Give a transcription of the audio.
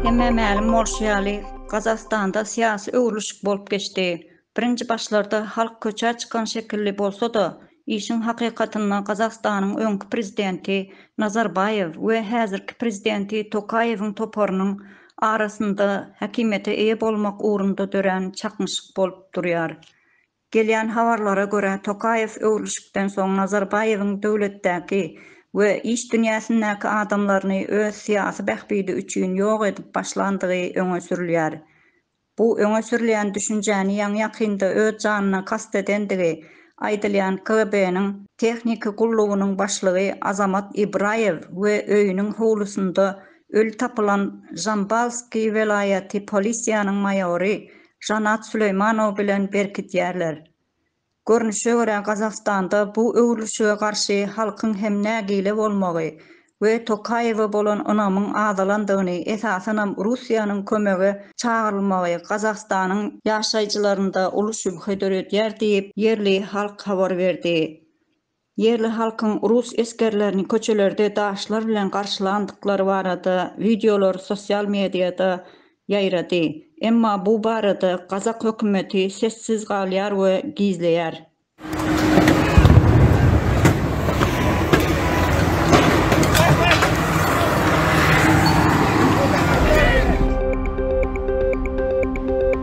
Hemmä mälim bolşy ýaly, Gazagystanda syýasy öwrülişik bolup geçdi. Birinji başlarda halk köçä çykan şekilli bolsa-da, işiň hakykatynda Gazagystanyň öňki prezidenti Nazarbaýew we häzirki prezidenti Tokaýewiň toparynyň arasynda häkimiýete eýe bolmak ugrunda dörän çaknyşyk bolup durýar. Gelýän habarlara görä, Tokaýew öwrülişikden soň Nazarbaýewiň döwletdäki we iş dünýäsindäki adamlaryny öz syýasy bähbidi üçin ýok edip başlandygy öňe sürülýär. Bu öňe sürülýän düşünjäni ýaňy-ýakynda öz janyna kast edendigi aýdylýan KGB-niň Tehniki gullugynyň başlygy Azamat Ibraýew we öýüniň howlusynda öli tapylan Žambalskiý welaýaty polisiýanyň maýory Žanat Süleýmanow bilen berkidýärler. Görnüşe görä Gazagystanda bu öwrülişige garşy halkyň hem nägile bolmagy we Tokaýewe bolan ynamyň azalandygyny esasanam Russiýanyň kömege çagyrylmagy Gazagystanyň ýaşaýjylarynda uly şübhe döredýär diýip ýerli halk habar berdi. Ýerli halkyň rus esgerlerini köçelerde daşlar bilen garşylandyklary barada wideolar sosial mediada ýaýrady. Emma bu barada gazak hökümeti sessiz galýar we gizleýär.